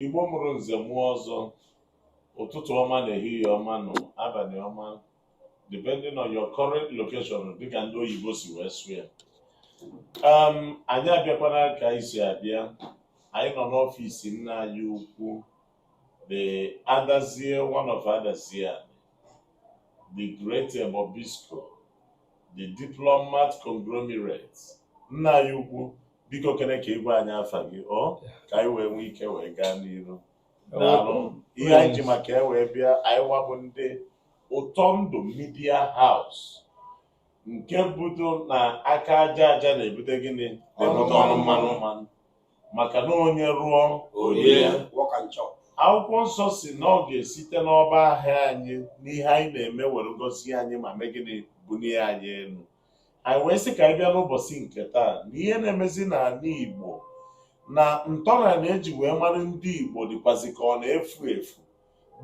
Igbo mụrụ nze mụọ ọzọ ụtụtụ ọma na ehihie ọma nụ abalị ọma depending on your current location dịka ndị oyibo si wee sụ ya um, anyị abịakwana ka anyị si abịa anyị nọ n'ọfịs nna anyị ukwu the adazie one of Adazi Ani the great Bobisco the diplomat conglomerate nna anyị ukwu biko kene ka ị gwa anyị afa gị ọ ka anyị wee nwee ike wee gaa n'iru daalụ ihe anyị ji maka ya wee bịa anyịwa bụ ndị Ụtọ Ndụ Media House nke budo na aka aja aja na-ebute gịnị na-ebute ọnụ mmanụ mmanụ maka na onye rụọ o rie work and chop. akwụkwọ nsọ si na ọ ga-esite n'ọba ahịa anyị n'ihe anyị na-eme were gọzie anyị ma mee gịnị bulie anyị elu anyị wee sị ka anyị bịa n'ụbọchị nke taa na ihe na-emezi n'ala Igbo na ntọala na-eji wee mara ndị Igbo dịkwazi ka ọ na-efu efu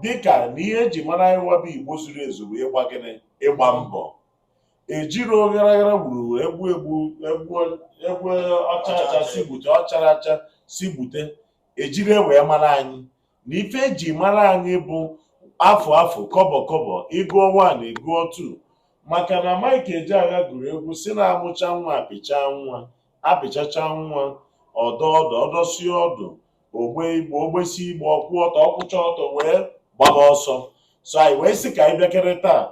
dịka na ihe eji mara anyịwa bụ Igbo zuru ezu bụ ịgba gịnị ịgba mbọ ejirọ oghara aghara gburu egbu egbu egbe ọcha acha si gbute ọchara acha si gbute ejirọ ya wee mara anyị na ife eji mara anyị bụ afụ afụ kọbọ kọbọ ị gụọ one ị gụọ two maka na Mike Ejeagha gụrụ egwu si na amụcha nwa apịcha nwa apịchacha nwa ọ dọ ọdụ ọ dọsi ọdụ o gbe igbe o gbesi igbe ọ kwụ ọtọ ọ kwụcha ọtọ wee gbaba ọsọ so anyị wee sị ka anyị bịakere taa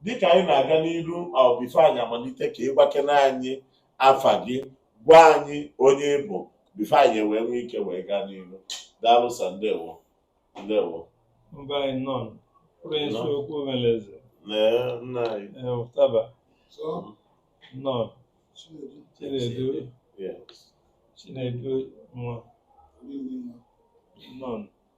dịka anyị na-aga n'iru o before anyị amalite ka ị gwakene anyị afa gị gwa anyị onye ị bụ before anyị wee nwee ike wee gaa n'iru daalụ sa ndewo ndewo mba anyị nọ prince Nọ. okwu omeleze Lee nna anyị eh, ụtaba So, nọ Chinedu, chinedu Yes. chinedu nwa good evening, ma. nọ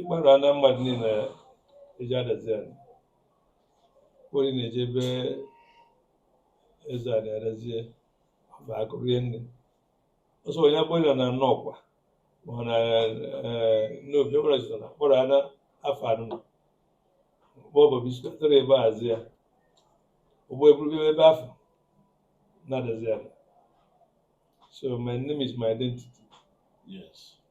ịgbara na mmadụ niile eji Adazi Ani onye na-eje ebe Ezeani Adazie ma akụ rie nne ọsọ onye akpọrọ na Nnọkwa ma ọ na Nnobi ọbụla jụrụ na akpọrọ ana afọ anọ mgbe ọ Bobisco tara ebe azi ya ụgbọ eburu ebe afa na Adazi Ani so my name is my identity Yes.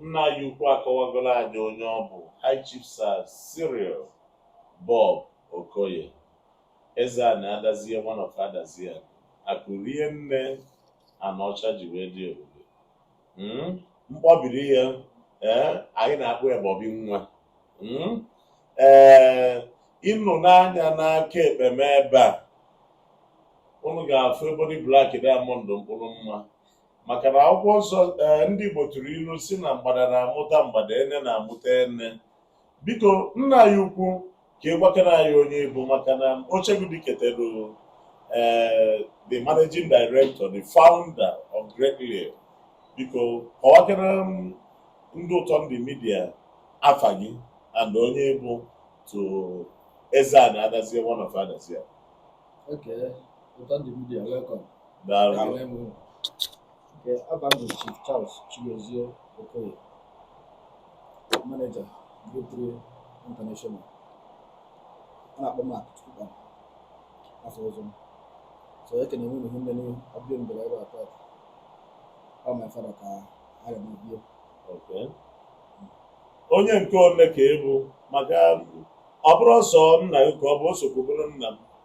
nna anyị ukwu akọwagoro anyị onye ọ bụ High Chief Sir Cyril Bob Okoye Ezeani Adazie one of Adazi Ani akụ rie nne Anaọcha ji wee dị ebube Mm, mkpọbiri ya ee anyị na-akpọ ya Bobby nwa Mm, ee unu nee anya n'aka ekpe m ebe a unu ga-afụ ebony black diamond mkpụrụ mma maka na akwụkwọ nsọ eh, ndị Igbo tụrụ ilu si na mgbada na-amụta mgbada ene na-amụta ene biko nna anyị ukwu ka ị gwakere anyị onye ị bụ maka na Ochegudu ketelu eh, the managing director the founder of Great Lake biko kọwakere ndị Ụtọndụ Media afa gị and onye ị bụ to Eze-Ana Adazie one of Adazie okay Ụtọndụ Media welcome manager Victory International a na-akpọ m Akụchukwu afa ọzọ m so ekene nwunye ihe nne n'ihu abịa m bịara ebe a taa ọ my father ka a ga mebie onye nke ole ka ị bụ maka ọ bụrọ sọ nna gị ka ọ bụ o sokwu bụrụ nna m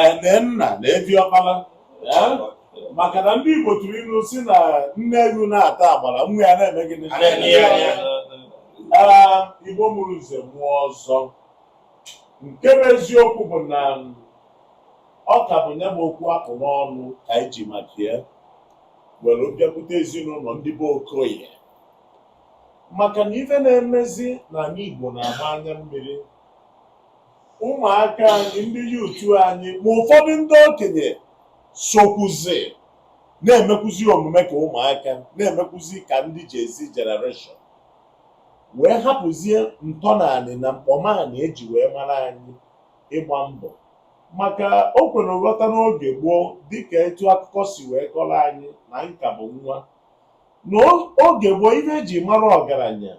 ene nna na evi ọkpara maka na ndị Igbo tụrụ ilu si na nne ewu na-ata agbara nwa ya na-eme gịnị Igbo mụrụ nze mụọ ọzọ nke bụ eziokwu bụ na ọ ka bụ nya bụ okwu a kpụ n'ọnụ ka anyị ji maka ya were bịakwute ezinụlọ ndị be Okoye maka na ife na-emezi n'ana Igbo na-agba anya mmiri ụmụaka anyị ndị youth anyị ma ụfọdụ ndị okenye sokwuzi na-emekwuzi omume ka ụmụaka na-emekwuzi ka ndị Gen Z generation wee hapụzie ntọnanị na mkpọmanị eji wee mara anyị ịgba mbọ maka o kwere nghọta n'oge gboo dịka etu akụkọ si wee kọrọ anyị na m ka bụ nwa na oge gboo ife eji mara ọgaranya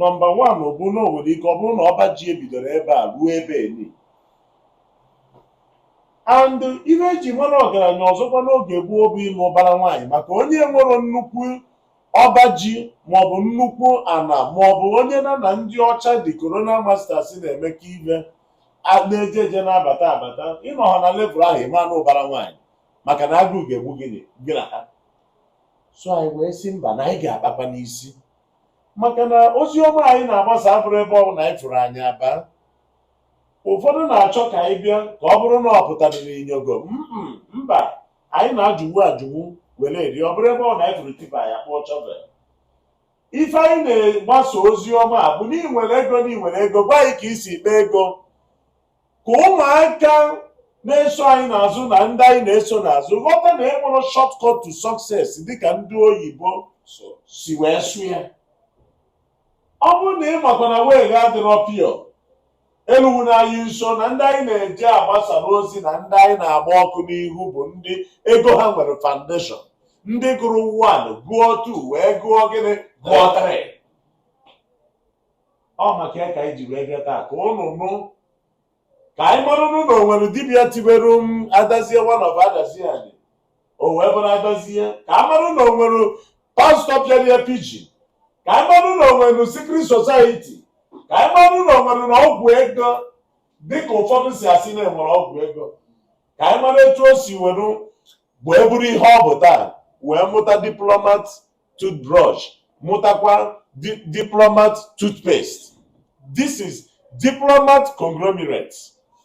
Number one bụ na o nwere ike ọ bụrụ na ọba ji ebidoro ebe a ruo ebe eni and ife eji mara ọgaranya ọzọkwa n'oge gboo bụ ịlụ ụbara nwaanyị maka onye nwere nnukwu ọba ji maọbụ nnukwu ana maọbụ onye nya na ndị ọcha ndị colonial masters na-emekọ ife na-eje eje na-abata abata ị nọha na level ahụ ị ma nụ ụbara nwaanyị maka na agụụ ga-egbu gị na ha so anyị wee sị mba na anyị ga-akpakwa n'isi maka na ozi ọma anyị na-agbasa abụrọ ebe ọbụla anyị fụrụ anyị aba ụfọdụ na-achọ ka anyị bịa ka ọ bụrụ na ọ pụtara n'inyogo Mm-mm, mba anyị na-ajụwu ajụwu were eri ọ bụrọ ebe ọbụna anyị fụrụ tipper anyị akpụọ shovel ife anyị na-agbasa ozi ọma a bụ na ị nwere ego na ị nwere ego gwa anyị ka i si kpee ego ka ụmụaka na-eso anyị n'azụ na ndị anyị na-eso n'azụ ghọta na e nwerọ shortcut to success dịka ndị oyibo si wee sụ ya ọ bụrụ na ị makwa na way gị adịrọ pure elukwana anyị nso na ndị anyị na-eje agbasara ozi na ndị anyị na-agba ọkụ n'ihu bụ ndị ego ha nwere foundation ndị gụrụ 1 gụọ 2 wee gụọ gịnị gụọ 3 ọ maka ya ka anyị ji wee bịa taa ka unu nụ ka anyị marụnụ na o nwere dibịa tiberu m adazie one of adazi ani o wee bụrụ adazie ka a marụ na o nwere pastọ pịara ya pijin ka anyị marụ na o nwere secret society ka anyị marụ na o nwere na ọgwụ ego dịka ụfọdụ si asị na enwere ọgwụ ego ka anyị mara etu o si were wee bụrụ ihe ọ bụ taa wee mụta diplomat toothbrush mụtakwa diplomat toothpaste this is diplomat conglomerate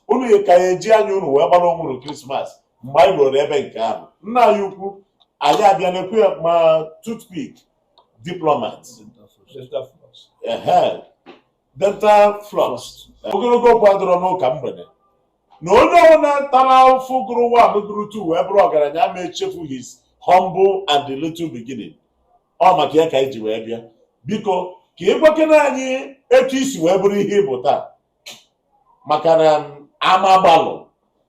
unu ka ya-eji anya unu wee gbara onwe unu krismas mgbe anyị ruru ebe nke ahụ nna anyị ukwu anyị abịa na-ekwu ya ma toothpick diplomat ehe dental floss ogologo okwu adịrọ n'ụka mgbede na onye ọbụla tara afụfụ gụrụ one gụrụ two wee bụrụ ọgaranya ama echefu his humble and the little beginning ọ maka ya ka anyị ji wee bịa biko ka ị gwakene anyị etu i si wee bụrụ ihe ị bụ taa maka na ama gbalụ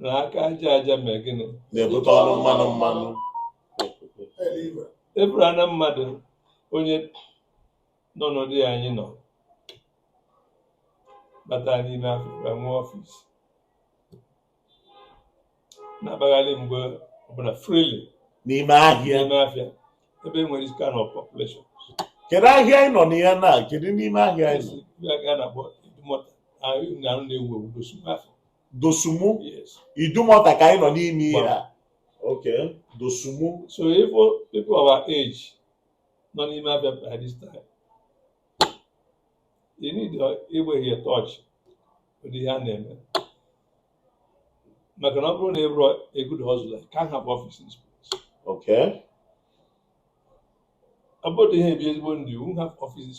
na aka aja aja mee gịnị na-ebute ọnụ mmanụ mmanụ eburu ana mmadụ onye nọ n'ụdị ya anyị nọ bata n'ime afịa nwee office na-abagharị mgbe ọbụla freely n'ime ahịa n'ime afịa ebe e nwere this kind of population kedu ahịa anyị nọ na ya na kedu n'ime ahịa anyị nọ esi ya ka a na-akpọ idumọta ahụ na-arụ na-ewu ewu gosi afọ Dosumu yes Idumota ka anyị nọ n'ime ihe a okay Dosumu so if people our age nọ n'ime afịa by this time you need ị be in touch with ihe a na-eme maka na ọ bụrụ na ị bụrọ a good hustler can't have office in this place okay ọ bụrụ na ihe ebi ezigbo ndị you won't have office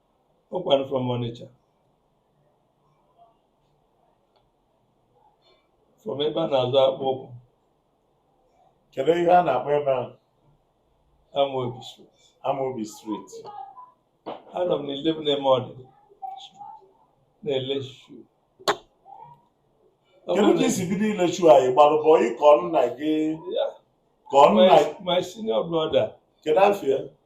Ọ kwanụ from Onitsha. From ebe a na-azụ akpụkpọ ụkwụ. Kedu ihe a na-akpọ ebe ahụ? Amobi Street. Amobi Street. Anọ m na 11 Emodi. Na-ele shoe. Kedu ka i si bido ile shoe a ị gbalụ bọyị ka ọ nna gị? Ka ọ nna. My senior brother. Kedu afa ya?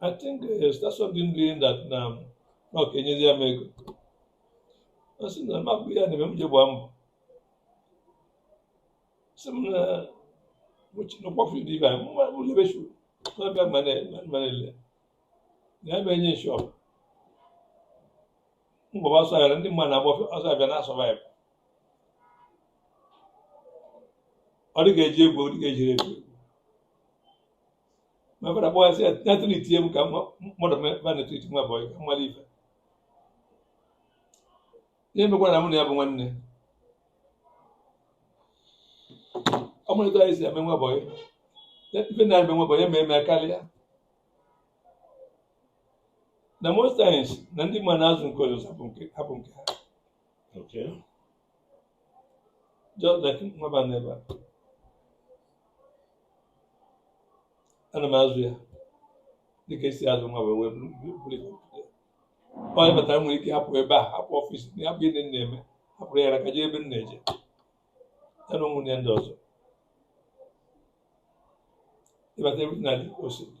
I think uh, eh, start something doing that na um, na ọ ga-enyezi ya m ego ọ sị na mabụ ya na-eme m ji gbaa mbọ sị m na mụchinụkpọfụ dị ibe anyị mma m lebe shoe n'ọbịa manele na ya mee nye shop m gbaba ọsọ afịa ndị mmadụ na-agba ọsọ afịa na-asurvive ọ dị ka eji egwu ọ dị ka ejiri egwu my father kpọọ ya sị ya ya tụrụ itinye m ka nwa- mmadụ mee ba na-etu iti nwa bọyị ka m mara ife ihe mekwa na mụ na ya bụ nwanne ọ mee m etu anyị si eme nwa bọyị ife na eme nwa bọyị eme eme karịa na most times na ndị mmadụ na-azụ nke ọzọ hapụ nke ha Okay. Just like nwaba n'ebe a. Ana m azụ ya dịka esi azụ nwa wee wee buru buru- buru ya. Onye batara nwere ike hapụ ebe a hapụ office ya bụ ihe na-eme hapụrụ ya ka jee ebe m na-eje ya na ụmụnne ndị ọzọ ị bata ebe na dị ka o si dị.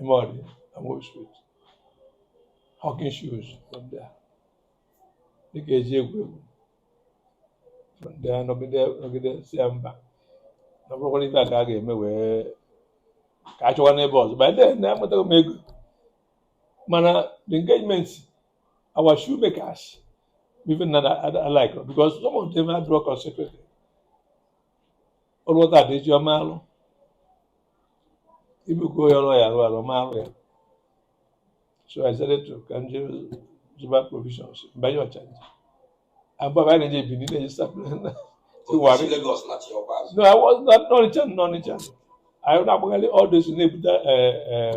Emodi and Moore Street, hawking shoes from there. Dịka eji egwu egwu from there nọgide nọgide sị ya mba na ọ bụrọkwa ife a ka a ga-eme wee ka a chọwa n'ebe ọzọ by then na emetago m ego mana the engagement our shoemakers even na I like her because some of them ha adịrọ concentrated ọrụ ọta dị eji ọ ma alụ ibukọ ya ọrụ ya arụ ọ ma arụ ya so I said to ka m je zụba provisions m banye Ọchanja abụọ anyị na-eji ebili na-eji sapụ na Iwari. Lagos na chi ọkwa azụ. No, I was not n'Ọnịcha n'Ọnịcha. Anyị na-agbagharị all those na-ebute eh, eh,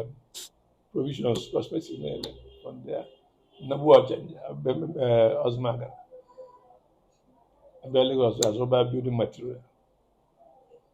provisions prospective na-ele from there. Nnabu ọcha ọzụmaga. Abịa Lagos azụba building material.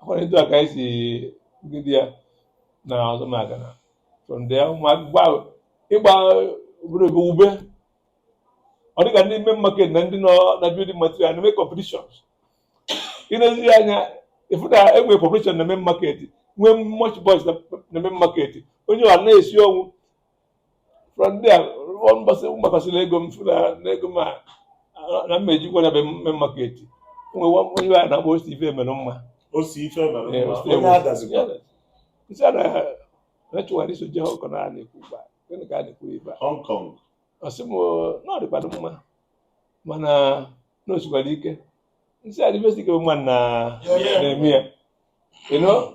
ọ kwa etu a ka anyị si jide ya na ọzọ maka na from there ụmụaka gba ịgba obere oge ube ọ dịka ndị main market na ndị nọ na building material na-eme competitions i nezie anya ị fụ na enwere competition na main market nwee much boys na na main market onye ọ na-esi ọnwụ from there mbọsị m gbakọsịrị ego m fụ na ego m a na mma ejikwa na main market nwe onye a na-akpọ osi ife mere mma o si ife mere Ee, mma o si onye Adazi kwa m sị ya na m chọwara iso je Hong Kong a na-ekwu ugbu a gịnị ka a na-ekwu ebe a Hong Kong ọ sị m na ọ dịkwanụ mma mana na o sikwara ike m sị ya dịbesi ike mma na Yeah. na-eme ya you know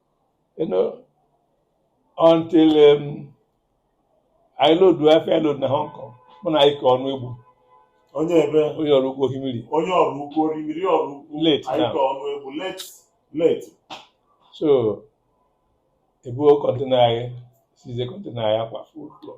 you know, until um, I load wee fe load na Hong Kong mụ na Ike Ọnụegbu onye ebe onye Ọraukwu Orimiri onye Ọraukwu Orimiri Ọraukwu Late anyị now. Ike Ọnụegbu late late so ebuo kọntena anyị seize kọntena anyị akwa full floor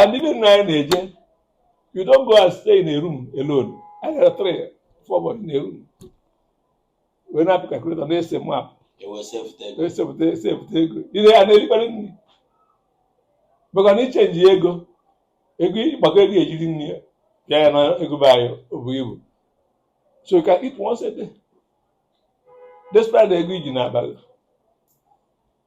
and even na anyị na-eje you don't go and stay in a room alone anyị gara three four boys in a room wee na-apị calculator na-ese map esepụta esepụta ego ihe ya na-erikpara nri maka na i chenjie ego ego ị gbakọọ ego e ji eri nri ya ya na ego be anyị o buru ibu so you can eat once a day despite the ego i ji n'abalị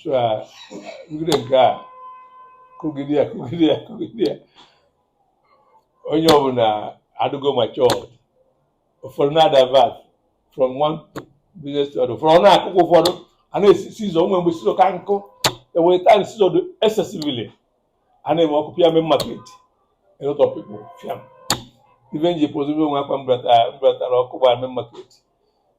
so a kụgide nke a kụgide ya kụgide ya kụgide ya onye ọbụla adịgo matured ụfọdụ na-adivert from one business to other ụfọdụ ọ na-akụkọ ụfọdụ a na-esi seizure o nwee mgbe seizure ka nkọ e nwere time seizure dị excessively a na-eme ọkụ pịa Main Market a lot of people fiam ife m ji pozibe o nwee akwa m bubatara m bubatara ọkụ gbara Main Market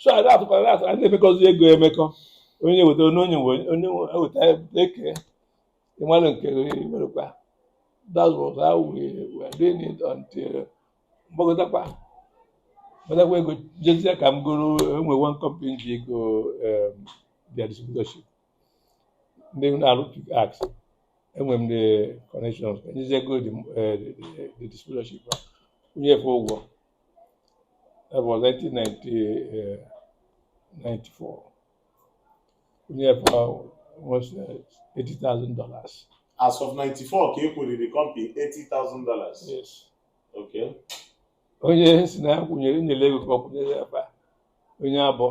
so anyị na-atụkwara na-atụ anyị na-emekọzi ego emekọ onye weta onye onye nwe onye nwe eweta e kee ị malụ nke werekwa that was how we were doing it until m gbagotakwa m gbatakwa ego jezie ka m goro e nwee one company ji ego um, their distributorship ndị na-arụ pick ax enwe m the connections ka m jezie goo the, eh, the, the, the distributorship kwụnye efe ụgwọ That was 1994. Onye ebe ahụ was $80,000. As of 94 ka a kwụrụ company $80,000. Yes. Okay. Onye si na ya kwụnyere nyere ego ka ọ kwụnyere ya ebe a. Onye abụọ.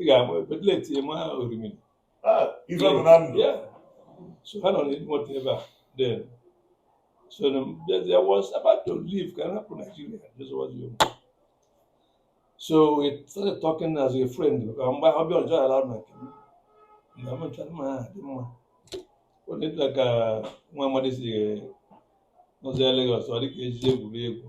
ị ga-ama ebe late ma Orimiri ah, ife bụ na ndụ so ha nọ n'elu moto ebe a then so there was about to leave ka hapụ Nigeria this was you so we started talking as a friend mgbe ọ bịa ọjọọ ala na nke m na mmecha mma ha dị mma ọ na-etu ka nwa amadi si nọzi Lagos ọ dị ka ejije egwuregwu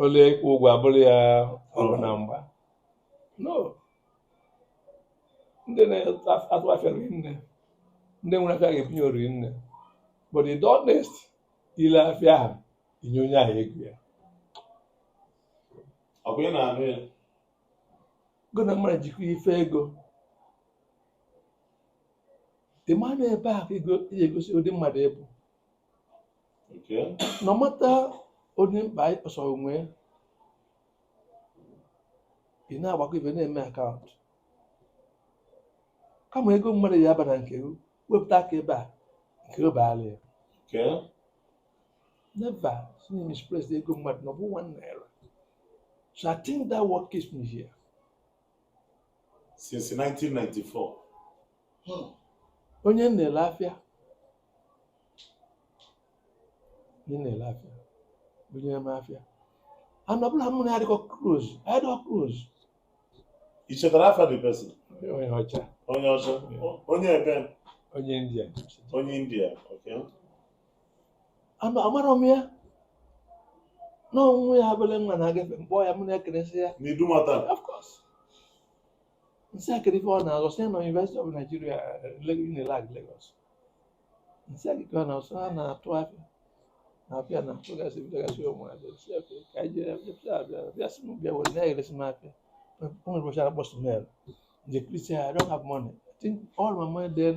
o lee ịkwụ ụgwọ abụrụ ya ọgụ na mgba no ndị na-atụ afịa rinne ndị nwere afịa ga-ebunye ị rinne but ị dị honest i lee afịa ahụ i nye onye ahụ ego ya ọ bụ ị na-anụ ya go na mmadụ jikwa ife ego ị ma na ebe ahụ ego je-egosi ụdị mmadụ ị bụ Okay. No matter onye mkpa anyị kpọsara onwe ya, ị na-agbakọ ife na-eme account kama ego mmadụ ya aba na nke gị, wepụta aka ebe a nke gị baara ya Okay. never misplace ego mmadụ na ọ bụ one naira so i think that what keeps me here since 1994 Hmm. onye na-ele afịa onye na-ele afịa onye na-eme afịa and ọbụla mụ na ya dịkọ close ya dịkọ close i chetara afa the person onye ọcha onye ọcha onye ebe onye India onye India okay Ama- amarọ m ya na onwe ya abụla nwa na-agafe m kpọọ ya mụ na-ekeresi ya na Idumota Of course. Nsị akịrị ife ọ na-azụ sị na University of Nigeria Unilag Lagos. Nsị akịrị ọ na-azụ ha na-atụ afịa na-apịa na atụgasị bịagasị ụmụ abịa sị afịa ka anyị jere abịa sị abịa abịa sị m bịa were na-eresị m afịa. O nwere ụbọchị akpọ smell. Nje Christian, I don't have money. I think all my money then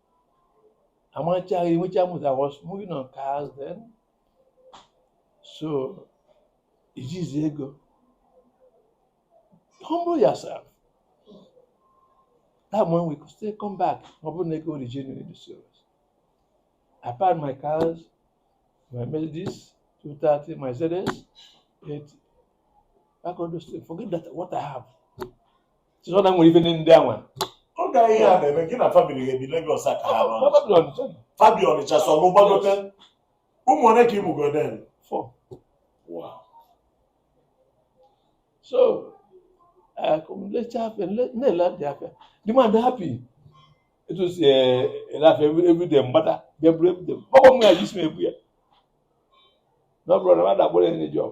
amachaghị enwecha m I was moving on cars then so ijizi ego humble yourself that one we could still come back ọ bụrụ na ego origin dị serious I packed my cars my Mercedes 230 my ZS 80 back on those things forget that what I have chizọ na nwere ife ndị anwa oge ihe a na-eme gị na family gị ebi Lagos aka ha nọ fa bi Ọnịcha sọ mụ gbagote ụmụ ole ka ị mụgo then so lecha afịa na-ele dị afịa the man dị happy etu si eh, ele afịa everyday m gbada bịa buru everyday ọgbọ m ga-eji si m ebu ya na ọ bụrụ na mmadụ agbụrụ enye job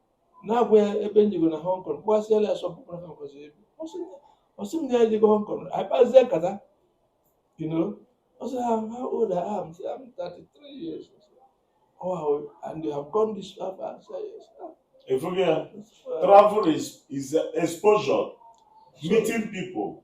na-agwa ya ebe m jego na Hong Kong kpọghasịala ya sọpụ na Hong Kong ebe ọ sị m na ya ejego Hong Kong anyị kpazie nkata you know ọ sị ha how old I am sị I'm 33 years oh and you have gone this far I say yes ị fụgo ya travel is, is exposure meeting people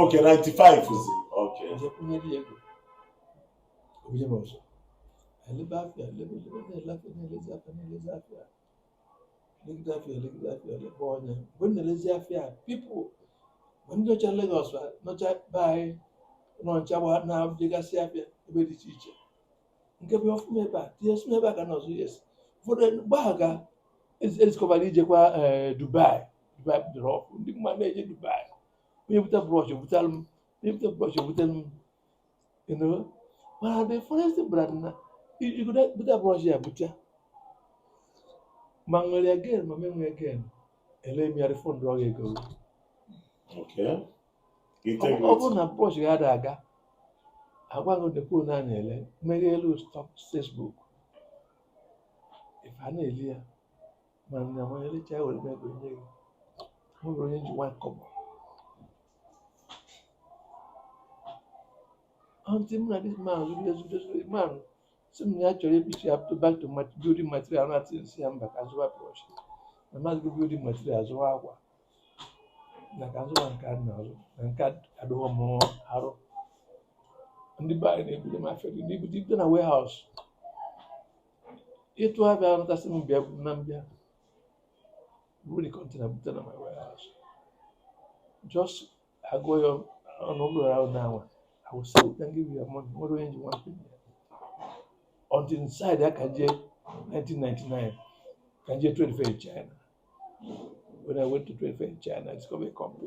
ok 95 zi ok elebe afịa elebe elebe na-ele afịa na-elezi afịa na-elezi afịa legide afịa elegide afịa elebe ọnya mgbe m na-elezi afịa people ma ndị nọcha Lagos nọcha be anyị nọ ncha gba na-ejegasị afịa ebe dị iche iche nke bụ ọfụma ebe a tinye sụma ebe a ka nọzụ yes ụfọdụ mgbe ahụ ka e discover ijekwa Dubai Dubai bidoro ọkụ ndị mmadụ na-eje Dubai onye bute brush butere m onye bute brush butere m you know mana the first brand na iji bute brush ya bute ma nwere again ma me nwere again ele m ya refund ọ ga-ego ọ bụrụ na brush ga-adị aga agwaghị dekpo na na-ele mmeri elu stock Facebook ife a na-eli ya mana m ga-elecha ya were ego nye gị ọ bụrụ onye ji nwa kọbọ until this man zuru ezu zuru man sị m na ya chọrọ ebichi ya to back to mat- building material na then m sị ya mba ka zụwa brush na m azụgo building material zụwa akwa na ka zụwa nke a na-azụ na nke a adịghọ m arụ ndị be anyị na-ebute m afịa dị n'ibu dị na warehouse ịtụ afịa nata sị m bịa na m bịa buru the container bute na my warehouse just agụọ ya ọnụ ụlọ ahụ na anwa I will sell it and give you your money nwere onye ji nwa mpe until inside ya ka m jee 1999 ka m jee trade fair in China when I went to trade fair in China I discovered a company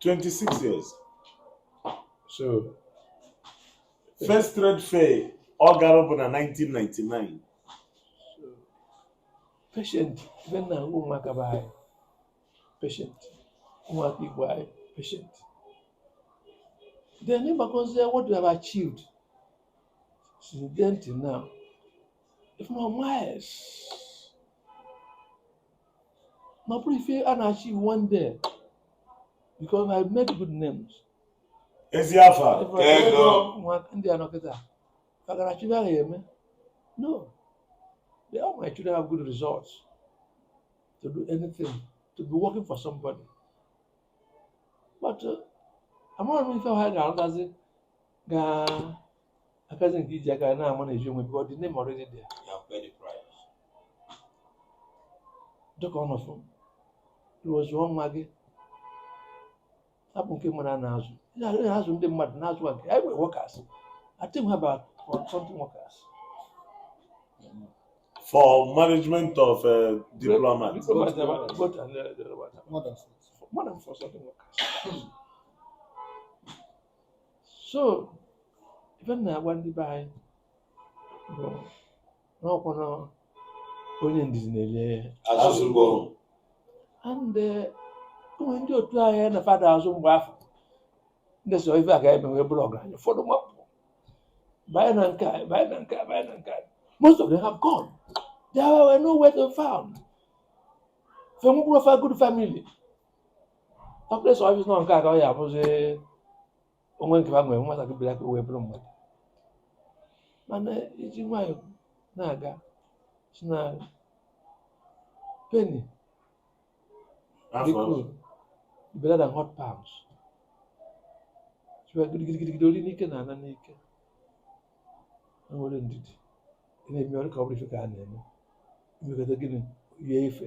26 years. So, first trade fair ọ gara bụ na 1999. Patient, ife m na-agwa ụmụaka be anyị. Patient, ụmụaka be anyị, patient. Then ị gbakọzie what you have achieved since then till now, if not miles. na ọ bụrọ ife a na-achieve one day because I made good names ezi afa ego ndị a nọkịta kagara chụrụ ahụ eme no they all my children have good results to do anything to be working for somebody but uh, amaghị m ife ha ga-arụtazi ga akazi gị iji aka na-amanage onwe gị the name already there You have paid the price. dịka ọ nọfụ ruo zụọ nwa gị abụ nke mara na azụ ihe azụ ndị mmadụ na-azụ a nke anyị nwere workers I think about forty something workers For management of uh, diplomat. Diplomat, diplomat, diplomat, and, uh, the other one. More than food. More than forty something workers so ife m na-agwa ndị be anyị bụ n'ọkwa na onye ndidi na-eli azụ ukpo and eh, o nwere ndị otu anyị na fa na-azụ mgbe afụ ndị so ife a ga-eme wee bụrụ ọgaranya ụfọdụ mapụ banye na nke a banye na nke a banye na nke a most of them have gone they were nowhere to be found fa enwekwurọ ofe good family Complex ọfịs nọ nke a ka ọ ya abụzi onwe nke ha nwere nwata gị bịara ka o wee bụrụ mmadụ mana e ji nwayọ na-aga si na penny dị cool better than hot pounds siwa gidigidigidi ori n'ike na-ana n'ike na nwere ndidi ị na-eme ọrụ ka ọ bụrụ ife ka a na-eme imekọta gịnị yie ife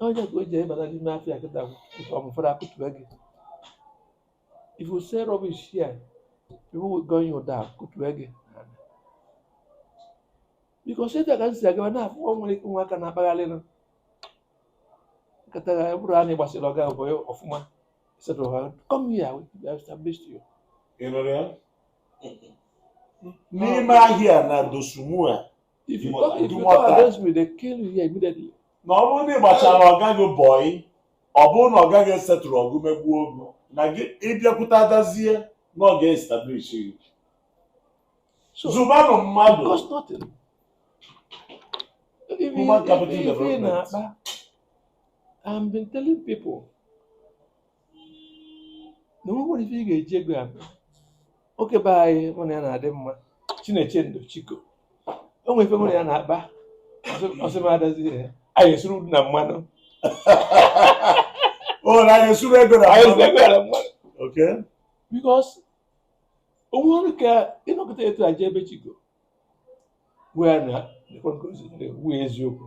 onye ka o ji ebata n'ime afịa kịta ụfọdụ akụtụbe gị if you say rubbish here people will gun you down akụtụbe gị because etu a ka m si agaba na-afụ ọ nwere ike nwa aka na-akpagharị nụ nkata ya bụrụ a na ị gbasịrị ọga bọị ọfụma setụrụ ha come here establish you Ị nụrụ ya? n'ime ahịa na Dosumu a If you talk, if you talk against me, they kill you here immediately. Na ọ bụrụ na ị gbachara ọga gị bọị, ọ bụrụ na ọga gị setụrọ gị megbuo gị, na gị bịakwute Adazie na ọ ga-establish gị. Zụbanụ mmadụ. Cost nothing. Human capital development. I've been telling people na o nwere ife ị ga-eji ego ya mee. nwoke be anyị mụ na ya na-adị mma Chinechendo Chiko o nwere ife mụ na ya na-akpa ọ sị m Adazie anyị esuru udu na mmanụ o na anyị suru ego na anyị esuru ego ya na mmanụ okay because o nwerọ ka ị nọkata etu a jebe Chiko wee na wee eziokwu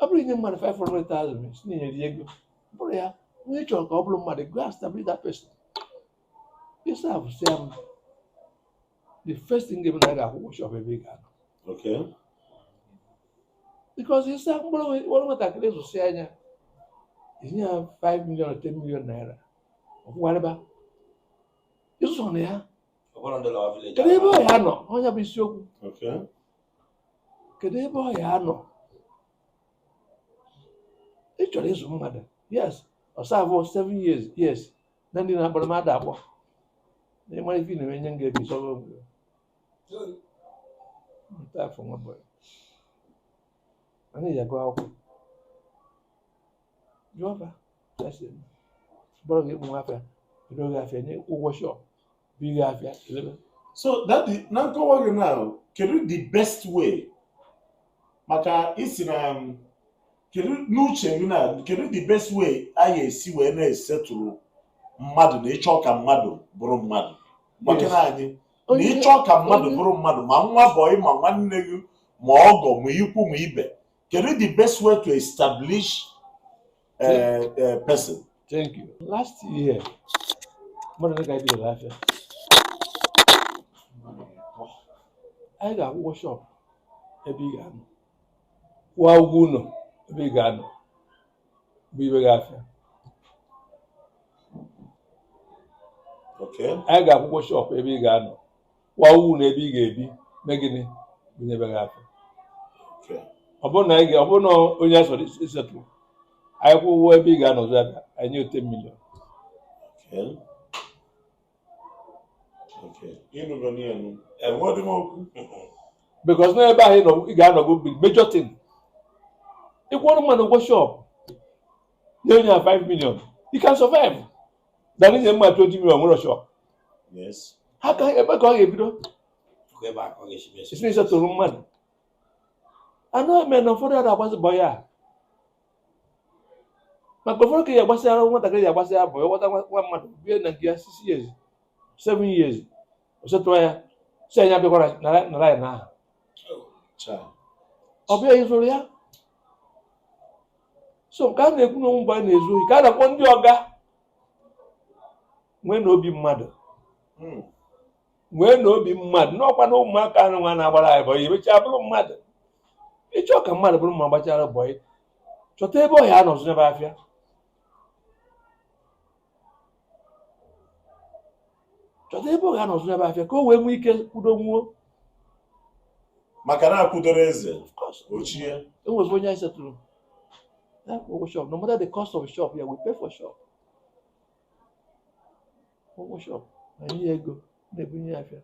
ọ bụrụ i nye mmadụ 500,000 si na eri ego bụrụ ya onye ị chọrọ ka ọ bụrụ mmadụ go and establish that person ị establish ya mma the first thing ị ga-eme na a ga-akwụ ụgwọ shop ebe ị ga-anọ Okay. because ịsa mkpụrụ nwe- mkpụrụ nwatakịrị zụsị anya i nye ya 5 million 10 million naira ọkwụgharịba ịzụsọ na ya kedu ebe ọ ya-anọ ọ nya bụ isiokwu kedu ebe ọ ya-anọ ị chọrọ ịzụ mmadụ yes ọ serve seven years yes na ndị na-akpọrọ mmadụ akpọ na ị mara ife na-eme nye m ga-ebi sọrọ obodo nta afọ nwa bọị anyị ji agụ akwụkwọ jụọ fa ya sị bọrọ gị ụmụ afịa ere gị afịa nye ụgwọ shop bụ gị afịa elebe so that the, na nkọwa gị na kedu the best way maka isi na um, kedu n'uche gị na kedu the best way anyị esi wee na-esetụrụ mmadụ na ịchọ ka mmadụ bụrụ mmadụ maka na anyị na ịchọ ka mmadụ bụrụ mmadụ ma nwa bọị ma nwanne gị ma ọgọ ma ikwu ma ibe Kedu the best way to establish a, eh, a eh, person? Thank you. Last year, mmadụ dịka anyị bidoro afịa anyị ga-akwụ ụgwọ shọpụ ebe ị ga-anọ kwụọ ụgwọ ụlọ ebe ị ga-anọ bunyebe gị afịa anyị ga-akwụ ụgwọ shọpụ ebe ị ga-anọ kwụọ ụgwọ ụlọ ebe ị ga-ebi mee gịnị bunyebe gị afịa Okay. ọ bụrụ na anyị ga- ọ bụrụ na onye a chọrọ isetụ anyị kwụọ ụgwọ ebe ị ga-anọzi aka anyị nye gị 10 million Okay. Okay. Ịnụgo n'ihe nụ. Enweghị m okwu. because na ebe ahụ ị nọ- ị ga-anọgo bụ major thing ị kwụọrọ mmadụ ụgwọ shọp nye onye a 5 million he can survive than inye mmadụ 20 million o nwerọ shọp ha ka ebe ka ọ ga-ebido esi esetụrụ mmadụ anụ eme na ụfọdụ ada agbazi bọyị maka ụfọdụ ka ya agbasịara nwatakịrị ya agbasịara bọyị nwata nwa mmadụ bie na nke ya six years seven years ọ setụ ya sị na ya abịakwala na laịn ahụ ọ bịa izụrụ ya so nke a na-ekwu na ụmụ mgbe a na-ezu ohi ka a na-akpọ ndị ọga nweenụ obi mmadụ hmm. nweenụ obi mmadụ n'ọkwa na ụmụaka anụnwa na-agbara anyị bọyị emechaa bụrụ mmadụ ịchọ ka mmadụ bụrụ mma gbachara bọyị chọta ebe ọ ya-anọ zụbe afịa chọta ebe ọ ya-anọ zụbe afịa ka o wee nwee ike kwudo nwuo maka na akwụdoro eze ochie enwezi onye anyị setụrụ ụgwọ shop no matter the cost of shop ya we pay for shop ụgwọ shọpụ anyị nye ya ego na-ebunye ya afịa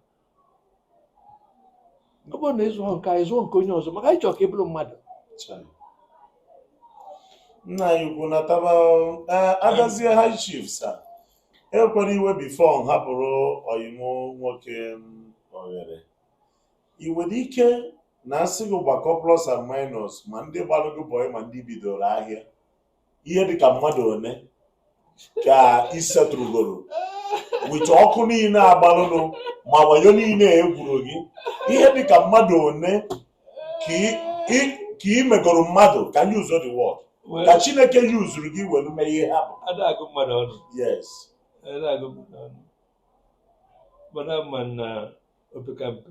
ọ bụrụ na ị zụọ nke anyị zụọ nke onye ọzọ maka anyị chọrọ ka ị bụrụ mmadụ nna anyị ukwu nataba adazie high chief sir ewela iwe before m hapụrụ ọyị m nwoke oghere ị nwere ike na a sị gị gbakọọ plus and minus ma ndị gbalụgo bọị ma ndị bidoro ahịa ihe dịka mmadụ one ka ị setụrụgoro with ọkụ niile agbalụnụ ma wayo niile e gwuru gị ihe dịka mmadụ one ka ị megoro mmadụ ka m use the word ka chineke yuzuru gị were mee ihe ha bụ ada agụ mmadụ ọnụ yes ada agụ mmadụ ọnụ mana ma na opekampe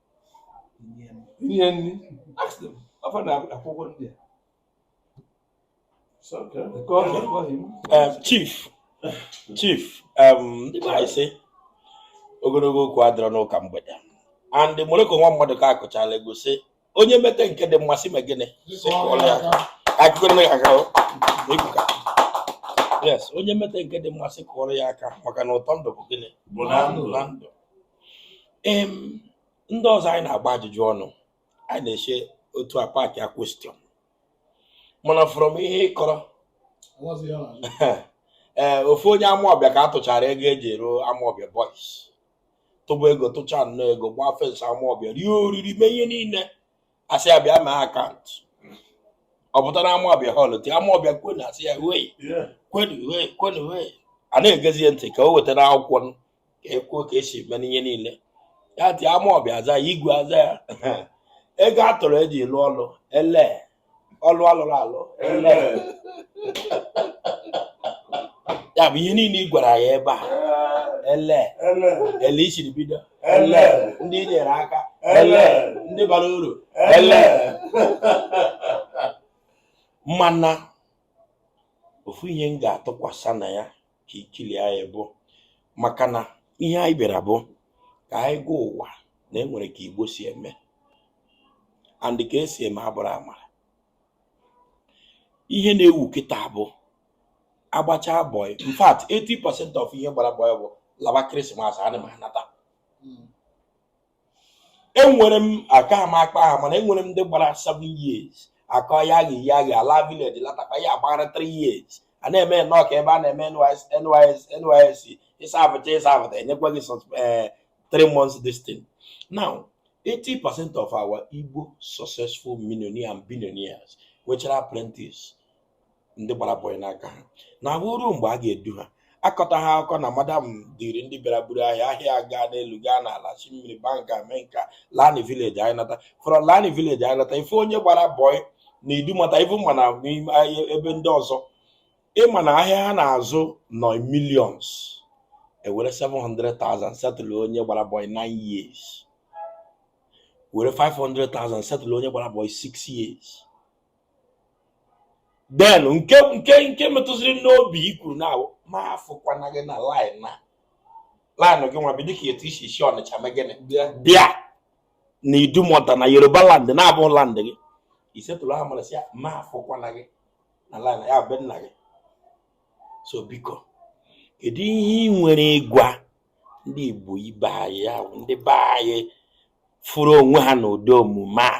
inye nri afọ na-akwụ ụgwọ ndị a Um, chief chief um, ndị be anyị sị ogologo okwu adịrọ n'ụka mgbede and Morocco nwa Maduka kụchalụ egwu sị onye mete nke dị mma sị mee gịnị yes onye mete nke dị mma sị kụọrọ ya aka maka na ụtọ ndụ bụ gịnị bụ na ndụ ndị ọzọ anyị na-agba ajụjụ ọnụ anyị na-eche otu a paakị a question mana from ihe ịkọrọ ee ofu onye Amawbia ka a tụchara ego eji arụ Amawbia boys tụba ego tụcha nnọọ ego gbaa fence Amawbia rie oriri mee ihe niile asị ya bịa mee account ọ pụtara Amawbia hall ti Amawbia kwenu asị ya wei kwenu wei kwenu wei a na-egezie ntị ka o wetara akwụkwọ ka ekwuo ka esi mee ihe niile ya ti Amawbia aza ya igwe aza ya ego a tụrụ eji lụọ ọlụ ele ọlụ alụrụ alụ ele ya bụ ihe niile ị gwara ya ebe a ele ele isiri bido ele ndị nyere aka ele ndị bara uru ele mana ofu ihe m ga-atụkwasị na ya ka ikili anyị bụ maka na ihe anyị bịara bụ ka anyị gwa ụwa na enwere ka igbo si eme and ka esi eme abụrụ amara ihe na-ewu kịta bụ agbacha boy in fact 80% of ihe gbara boy bụ laba Christmas ana m anata enwere m aka m akpọ aha mana enwere m ndị gbara 7 years akọ ya ghi ya ghi ala village latakwa ya agbara 3 years a na-eme nnọọ ka ebe a na-eme NYSC ị servecha ị serveta enyekwa gị 3 eh, months this thing now 80 percent of our Igbo successful millionaires and billionaires nwechara apprentice ndị gbara boy n'aka ha na-abụ o ruo mgbe a ga-edu ha akọta ha akụkọ na madam dịrị ndị bịara buru ahịa ahịa gaa n'elu gaa n'ala si mmiri banka mee nka lani village anyị nata from lani village anyị nata ife onye gbara boy na Idumota ife ma na ebe ndị ọzọ ịma na ahịa ha na-azụ nọ in millions ewere 700,000 settle onye gbara boy 9 years were 500,000 settle onye gbara boy 6 years then nke nke nke metụziri n'obi i kwuru na m afụkwana gị na laịn na laịn gị nwa bi dịka etu i si si ọnịcha mee gịnị bịa bịa na idumọta na yoruba land na-abụ land gị i settle nwa mmadụ sị ya m afụkwana gị na laịn ya bụ nna gị so biko kedu ihe ị nwere ịgwa ndị igbo ibe anyị ahụ ndị be anyị fụrụ onwe ha n'ụdị omume a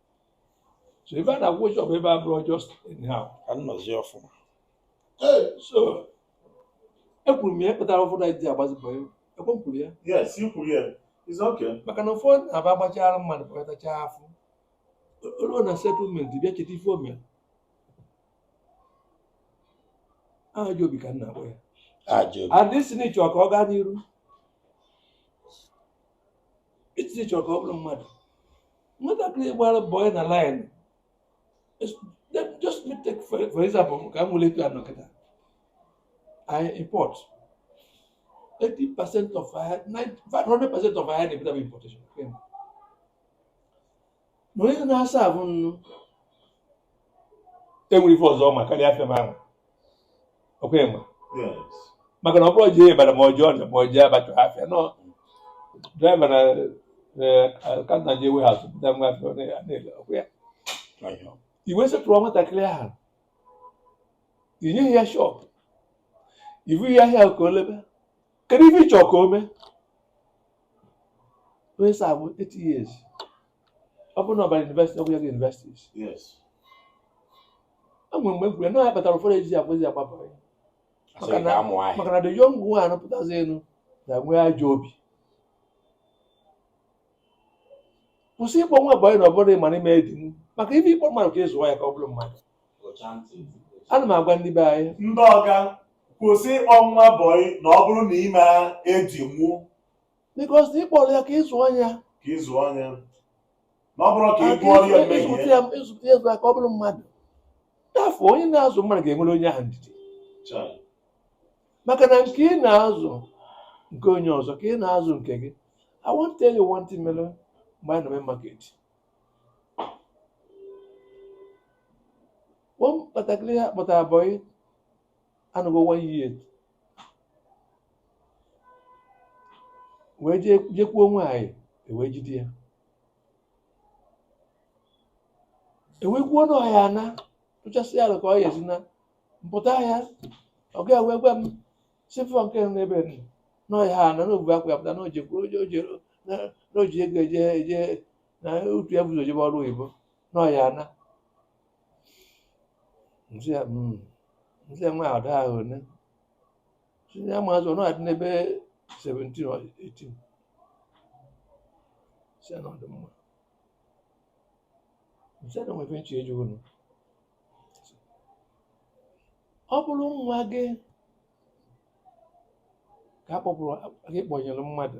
so ebe a na-akwụ shọp ebe a bụrụ just anyhow ka m nọzie ọfụma so ekwuru m ya kpatara ụfọdụ anyị ji agbazi bọị ọkwa m kwuru ya yes i kwuru ya it's okay maka na ụfọdụ na-abụ a gbachara mmadụ kpọkọtacha afọ o ruo na settlement bịa cheta ife o me ajọ obi ka m na-akpọ ya ajọ and ị sị na ị chọ ka ọ gaa n'iru ị sị na ị chọ ka ọ bụrụ mmadụ nwatakịrị gbara bọị na laịn just me take for, for example ka m were etu a nọ kịta I import 80 percent of ife 100 percent of ife na-ebute bụ importation na onye na-aserve m nụ o nwere ife ọzọ ọ ma karịa afịa m ahụ ọkwa enwe maka na ọ bụrụ jee ibadan ma ọ jee ọja ma ọ jee abacha afịa nọ draiva na kanta jee warehouse bupụta nwa afịa na-ele ọkwa ya i wee settle nwatakịrị ahụ i nyeghị ya shọp ibu ya ahịa ka o lebe kedu ife ị chọ ka o mee onye serve 8 years ọ bụrụ na ọ bara yunivesiti ọ bụ ya ga yunivesiti yes o nwere mgbe m kwuru na ya kpatara ụfọdụ ejizi ekwezi agba bọyị asị Maka gị na- gaa mụọ ahịa maka na the young nwa anapụtazi elu na-enwe ajọ obi kwụsị ịkpọ nwa bọyị na ọ bụrụ ị mara ị ma-edinwu maka ife ị kpọ mmadụ ka ị zụọ ya ka ọ bụrụ mmadụ Kpọchaa ntị. ana m agwa ndị be anyị ndị ọga kwụsị ịkpọ nwa bọyị na ọ bụrụ na ị ma-edinwu Because ị kpọrọ ya ka ị zụọ ya ka ị zụọ ya na ọ bụrọ ka ị gụọ ya mmehie ịzụpụta ya ịzụpụta ya ka ọ bụrụ mmadụ afọ onye na-azụ mmadụ ga-enwere onye ahụ ndidi Chai. maka na nke ị na-azụ nke onye ọzọ ka ị na-azụ nke gị I want to tell you one thing mere mgbe anyị nọ main market nwatakịrị a kpọtara bọyị anọgo one year wee jee jekwuo nwaanyị ewee jide ya ewee kwuo na ọ ya-ana tụchasị ya ka ọ ya-esi naa m pụta ya ọga wee gwa m sifọ nke nọ n'ebe nọ na ọ ya-ana na o bu akpa ya pụta na o je na o ji ego eje eje na otu ya bu ụzọ jebe ọrụ oyibo nọ ya na nsị ya mm, nsị ya nwa a dị afọ one sị ya amazị ọ na-adị n'ebe 17 or 18 sị ya na ọ dị mma nsị ya na o nwee ife m chọ ịjụ unu ọ bụrụ nwa gị ka a kpọpụrụ gị kpọnyere mmadụ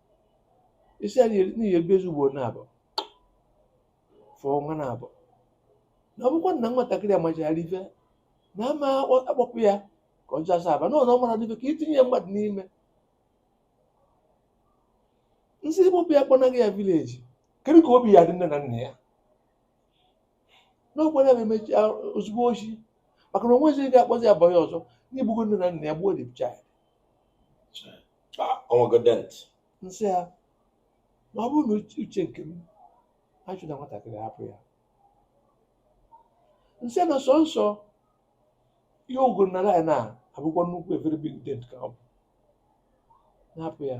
isi a n'ihi ebe ezi ugboro naabọ fọọ ọnwa naabọ na ọ bụkwa na nwatakịrị amachara ife na ama akpọpụ ya ka ọ jee Asaba n'ụlọ mara n'ife ka itinye ya mmadụ n'ime nsị ịkpọpụ ya kpọnaga ya village kedu ka obi ya-adị nne na nna ya n'ọkwara ya emechi ozugbo ọ sị maka na onwezi ga-akpọzi ya bọyị ọzọ na i gbugo nne na nna ya gbuo the child o nwego dent nsị ya na ọ bụrụ na uche nke m achụna nwatakịrị hapụ ya nsị na sọnsọ ihe ogoro na ya na-abụkwa nnukwu a very big dent ka ọ bụ na-ahapụ ya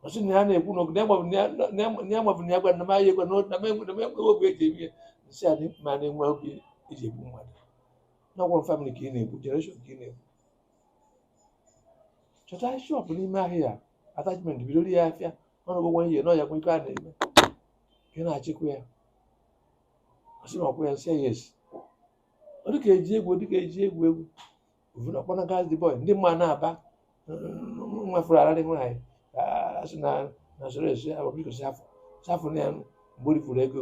ọ sị na ya na-ekwu na ogene ya gbabụ na ya gwa na m ahịa egwa na m enweghị obi eji eme ya nsị ya mana enwe obi eji egbu mmadụ na ọ bụ famili ka ị na-egbu generation ka ị na-egbu chọta shọpụ n'ime ahịa attachment bidoro ya afịa ọnụgụ nwa ihe n'ọya kwa ife a na-eme ka ị na-achịkwa ya ọ sị na ọkwa ya nsị ya esi ọ dịka eji egwu ọ dịka eji egwu egwu ovuna kpọnagazi the boy ndị mma na-aba nwefere ararị nwaanyị asị na na soro esi ababiko safụ safụ na ya mgbe o rifuru ego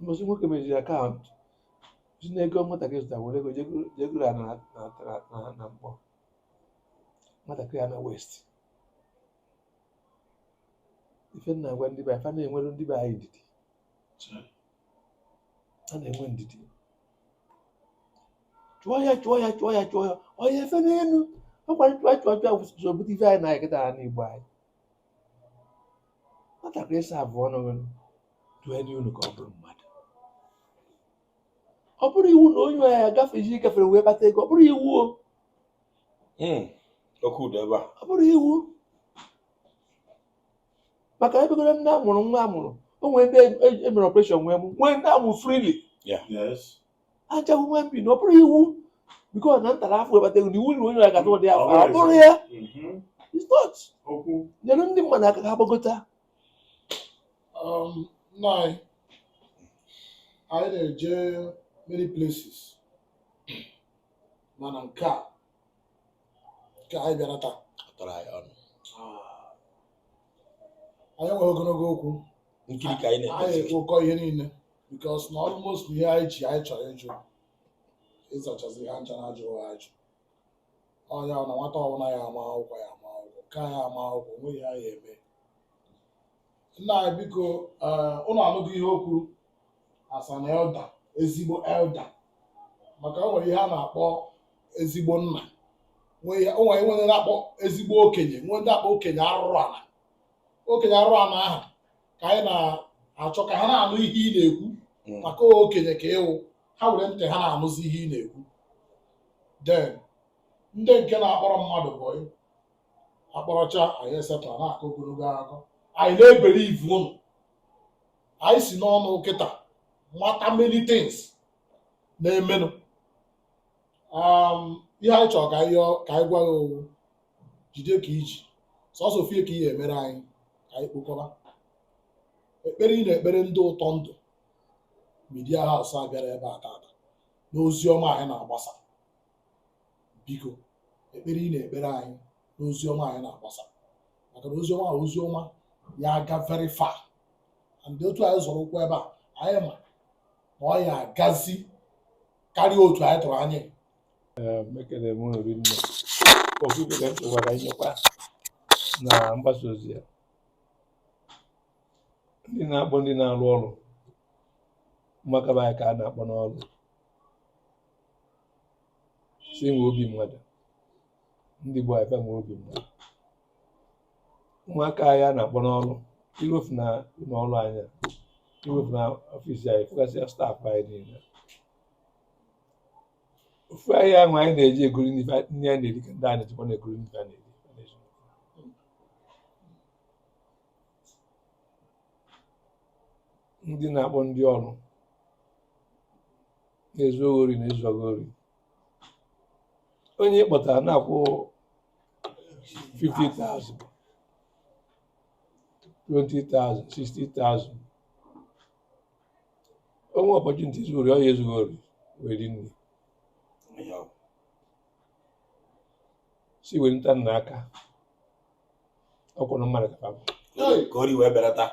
mbọsị nwoke meziri akaụntụ sị na ego nwatakịrị zụtara were ego je goro ana mbọ nwatakịrị a naa waste ife m na-agwa ndị be anyị fa na-enwere ndị be anyị ndidi a na-enwe ndidi chụọ ya chụọ ya chụọ ya chụọ ya onye efe n'elu ọkwa nchụachụ so bute ife anyị na-aya kịtaa n'Igbo anyị nwatakịrị saavụọ unu duenye ya ụnọ ka ọ bụrụ mmadụ ọ bụrọ iwu na onye ya ga ife i ji gafere wee kpata ego ọ bụrọ iwu o hmm, oke ụda ebe a ọ bụrọ iwu maka e nwegoro ndị a mụrụ nwa a mụrụ o nwere ndị e mere e, e ọpreshọn wee mụọ nwee ndị a mụ freely ha cha human being na ọ bụrọ iwu because na m tara afụfụ wee kpata ego na iwu na onye ya ga-ata ụdị afụfụ ọ bụrọ ya it's not nyere ndị mmadụ aka ha gbagota um, nna anyị anyị na-eje many places mana nke a nke anyị bịara taa tọrọ anyị ọnụ anyị enweghị ogologo okwu nkiri ka anyị anyị na-ekpezi ekpokọ ihe niile because na almost ihe anyị ji anyị chọrọ ịjụ ị zachazi ha ncha na ajụghị ajụ ọ ya na nwata ọbụla ya ama akwụkwọ ya ama akwụkwọ nke ya ama akwụkwọ o nweghị ihe ya eme nna anyị biko ụnụ anụghị ihe o kwuru a sị na elder ezigbo elder maka o nwere ihe a na-akpọ ezigbo nna nwee ihe- o nwere nwere na-akpọ ezigbo okenye nwee ndị akpọ okenye arụrụ ala okenye arụrụ ala ahụ ka anyị na-achọ ka ha na-anụ ihe ị na-ekwu Mm. maka okenye ka ị wụ ha were ntị ha na-anụzi ihe ị na-ekwu then ndị nke na-akpọrọ mmadụ bụ akpọrọcha anyị esetụ a na-akọ ogologo akụkọ anyị na-ebere ivu ụnụ anyị si n'ọnụ kịta mata many things na-emenụ um, ihe anyị chọrọ ka anyị ka anyị gwa gị ọ wụ jide ka i ji sọsọ ofie ka ihe i mere anyị ka anyị kpokọba ekpere ị na-ekpere ndị Ụtọ Ndụ Media House a bịara ebe a tata n'ozi ọma anyị na-agbasa biko ekpere ị na-ekpere anyị n'ozi ọma anyị na-agbasa maka na ozi ọma ozi ọma ya aga very far and otu anyị zọrọ ụkwụ ebe a anyị ma na ọ ya agazi karịa otu anyị tụrụ anya ekene m ụnụ rinne ofu ife ka m chọkwara inyekwa na mgbasa ozi a ndị na-akpọ ndị na-arụ ọrụ ụmụaka be anyị ka a na-akpọ n'ọrụ sị nwee obi mmadụ ndị Igbo anyị nwee obi mmadụ ụmụaka anyị a na-akpọ n'ọrụ i ruo fụ na ụlọ ọrụ anyị i ruo fụ na office anyị fụgasịa staff anyị niile ofu ahịa ahụ anyị na-eji egoro nri anyị na-eri ka ndị a na-ejikwa na-egoro nri a na-eri ndị na-akpọ ndị ọrụ na-ezu gị ori na-ezu gị ori onye ị kpọtara na-akwụ 50,000 20,000 60,000 o nwee opportunity izu ori ọ ya ezu gị ori were nne si were nta nna aka ọ kwụrụ mmadụ ka ka ori wee belata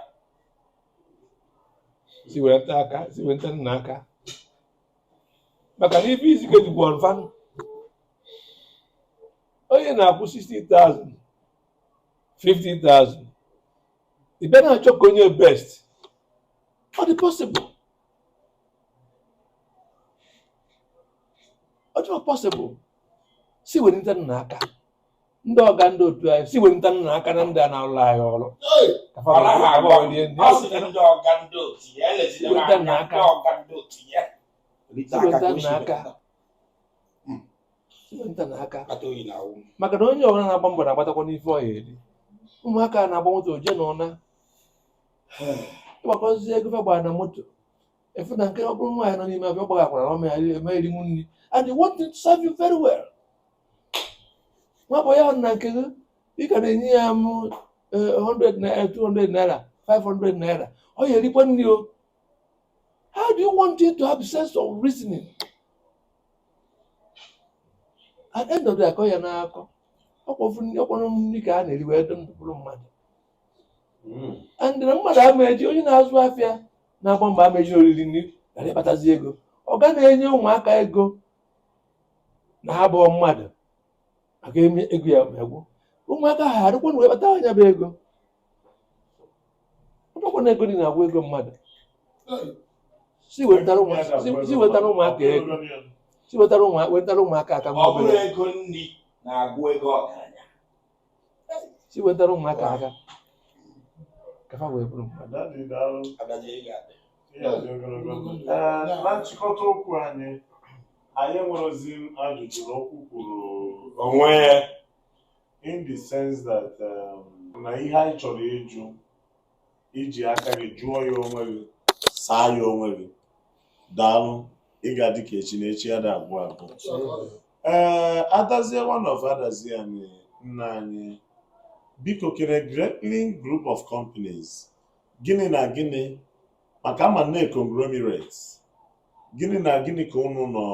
si wenita aka si wenitanụ aka maka na ife isi ike jikwa ọnfa onye na-akwụ 60,000 50,000 ị bịa na-achọ ka o nye best ọ dị possible ọ dị possible si wenitanụ aka ndị ọga ndị otu anyị si wenitanụ aka na ndị a na-alụ anyị ọrụ maka na onye ọbụla na-agba mbọ na-agbatakwanụ ife ọ ya-eri ụmụaka na-agba moto oje na ụna ị gbakọzie ego fa gbara na moto efu na nke ọ bụrụ nwaanyị nọ n'ime afọ ọ gbaghakwara ọma ya eme erinwu nri and they want to serve you very well nwa bụ ya na nke gị ị ka na-enye ya m 100 naira 200 naira 500 naira ọ ya-erikwa nri o how do you want him to have sense of reasoning at the end of the day, akọ ya n'akọ ọkpọrọ nri ka a na-eri wee dị ndụ bụrụ mmadụ Mm. and na mmadụ ama eji onye na-azụ afịa na-agba mbọ ama eji oriri nri ghara ịkpatazi ego ọ ga na-enye ụmụaka ego na ha bụ mmadụ maka eme ego ya egwu ụmụaka ha arịkwa na-ewebata nya bụ ego ọ bụkwa na ego nri na-agwụ ego mmadụ si wetara ụmụaka si- si wetara ụmụaka ego si wetara ụmụaka wetara ụmụaka aka ọ mmadụ bụrụ ego nri na-agwụ ego ọgaranya si wetara ụmụaka aka ka fa wee bụrụ mmadụ Dadi daalụ. Adazie ị ga-adị. Ị ga-adị ogologo ndụ. Ee, na nchịkọta okwu anyị anyị nwerozi ajụjụ na okwu kwuru onwe ya in the sense that um, na ihe anyị chọrọ ịjụ i ji aka gị jụọ ya onwe gị saa ya onwe gị daalụ ị ga-adị ka echi na echi ada agwụ agwụ ee adazie one of Adazi Ani nna anyị biko kere greatling group of companies gịnị na gịnị maka a ma na conglomerates gịnị na gịnị ka unu nọ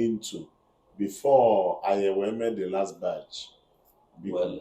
into before anyị wee mee the last batch biko Well,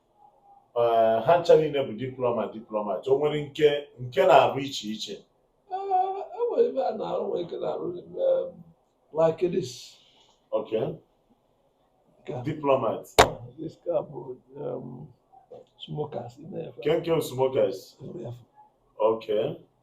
eh, ha ncha niile bụ diplomat diplomat o nwere nke nke na-arụ iche iche e nwere eh, e ebe a na-arụ nwere ike na-arụ like this okay diplomat this ka bụ um, smokers nke nke smokers okay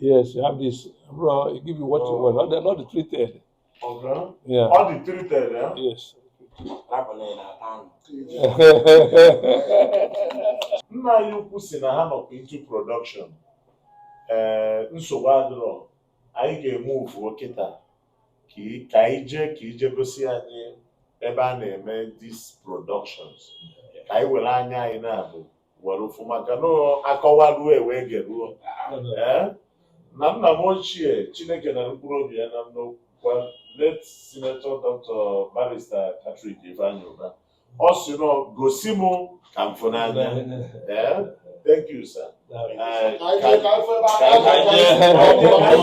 Yes, you have this. Bro, it give you what you want. Not the, not the treated. Okay. Yeah. All the treated, yeah? Yes. Nna anyị ukwu si na ha nọkwa into production. Ee, eh, nsogbu adịrọ. Anyị ga-emove kịta ka anyị jee ka i jee gosi anyị ebe a na-eme these productions. Ka anyị were anya anyị naabọ were fụ maka na akọwaruo e wee geruo ee na nna m ochie chineke nara mkpụrụ obi ya na ndokwa late senator dr barrister patrick ifeanyi ụba ọ sị na ọ gosi m ka m fụ n'anya ee thank you sir Ee, ka- ka afọ ebe aka ka- ka-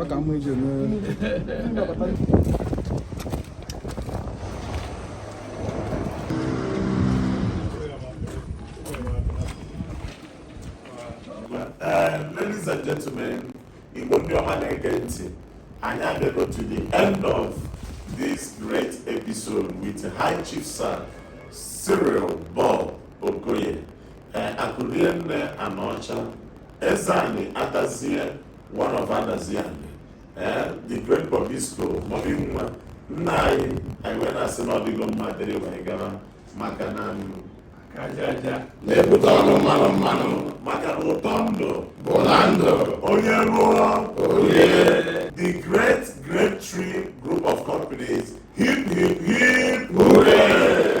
ọ ka mma ije mee ladies and gentlemen igbo ndị ọma na-ege ntị anyị abịago to the end of this great episode with high chief sir cyril bob okoye ee akụrienne anaọcha ezeanị adazie one of adazi anị ee the great bobisco mobi nwa nna anyị anyị wee na-asị na ọ dịgo mma dịrị wee gara maka na aka ajaja na-ebute ọnụ mmanụ mmanụ maka na ụtọ ndụ bụ na ndụ onye rụọ o rie the great grape tree group of companies hip hip hip hooray